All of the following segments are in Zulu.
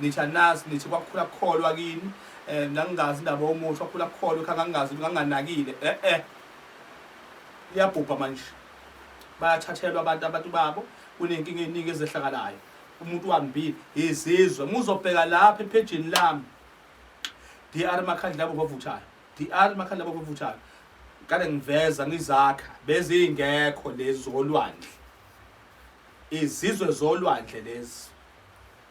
Nithi anazi, nithi kwakukhula kukholwa kini, um ngangingazi indaba yomuthi wakhula kukholwa kha ngangingazi nganginganakile e-e iyabhubha manje bayathathelwa abantu abantu babo kunenkinga eningi ezehlakalayo umuntu wambile izizwe muzobheka lapha ephejini lami DR makhandla labo bavuthayo DR makhandla labo bavuthayo kade ngiveza ngizakha bezingekho lezi zolwandle izizwe zolwandle lezi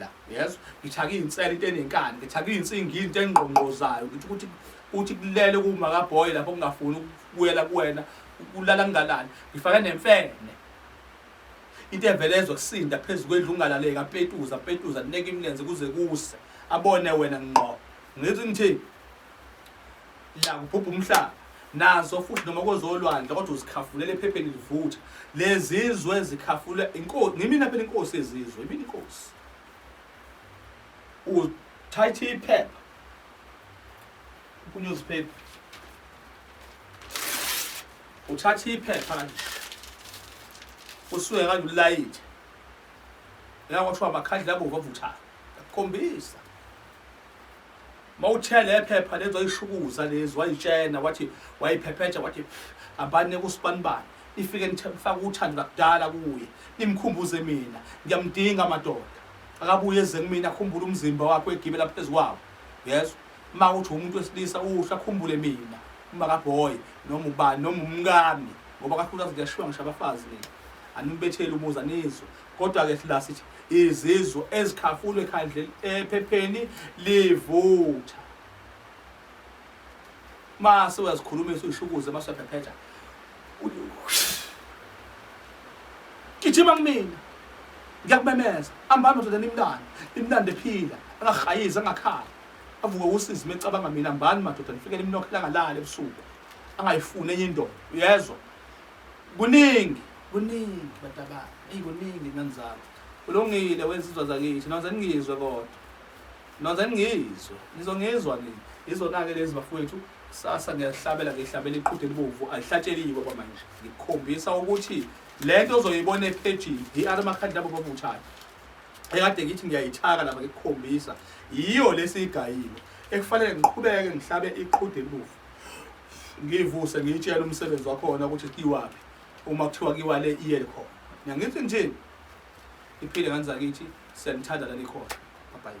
la uyezwa ngitha kuyintsela into enenkani ngitha kuyinsingi into engqongqozayo ukuthi ukuthi uthi kulele kuma ka boy lapho kungafuni ukubuyela kuwena ukulala kungalali ngifake nemfene into evele ezokusinda phezulu kwendlu ungalaleka petuza petuza neke imlenze kuze kuse abone wena ngqo ngithi ngithini la kubhubha umhlaba nazo futhi noma kozolwandle kodwa uzikhafulele ephepheni livutha lezizwe zikhafule inkosi ngimina phela inkosi ezizwe imini inkosi uthathe iphepha kunewspaper uthatha iphepha kanje usuke kanje ulayithe la kwathiwa amakhandla abomvu avuthayo akukhombisa Mawuthe lephepha lezi wayishukuza lezi wayitshena wathi wayiphephetha wathi abane kusibanibani ifike nithemfaka uthando lakudala kuye nimkhumbuze mina ngiyamdinga madoda akabuye eze kumina akhumbule umzimba wakhe wegibela phezu kwawo yezwa uma kuthi umuntu wesilisa uhle akhumbule mina uma kaboy noma ubani noma umkami ngoba kakhulu azi kuyashiwa ngisho abafazi mina anibetheli umuzi anizwe Kodwa-ke sila sithi izizwe ezikhafulwe ekhandleni ephepheni livutha. Mase uyazikhulumisa uyishukuze mase uyaphephetha. Gijima kumina. Ngiyakumemeza. Hamba ndoda nimntana. Imntana ephila, angahayizi angakhala. Avuke usizi mecabanga mina mbani madoda nifike nimnokhela ngalala ebusuku. Angayifuni enye indoda. Uyezwa? kuningi kuningi batabana eyi kuningi ngani zami kulungile wensizwa zakithi noze ningizwe kodwa noze ningizwe nizongizwa nini izona-ke lezi bafowethu kusasa ngiyahlabela ngihlabela iqhude elibovu alihlatsheliyiko kwamanje ngikukhombisa ukuthi le nto ozoyibona ephejini yi-r makhadi labo babuthana ekade ngithi ngiyayithaka laba ngikukhombisa yiyo lesiyigayile ekufanele ngiqhubeke ngihlabe iqhude elibovu ngiyivuse ngiyitshela umsebenzi wakhona ukuthi kiwaphi uma kuthiwa kiwa le iye khona ngiyangithi nje iphile nganizakithi siyanithanda lani khona bye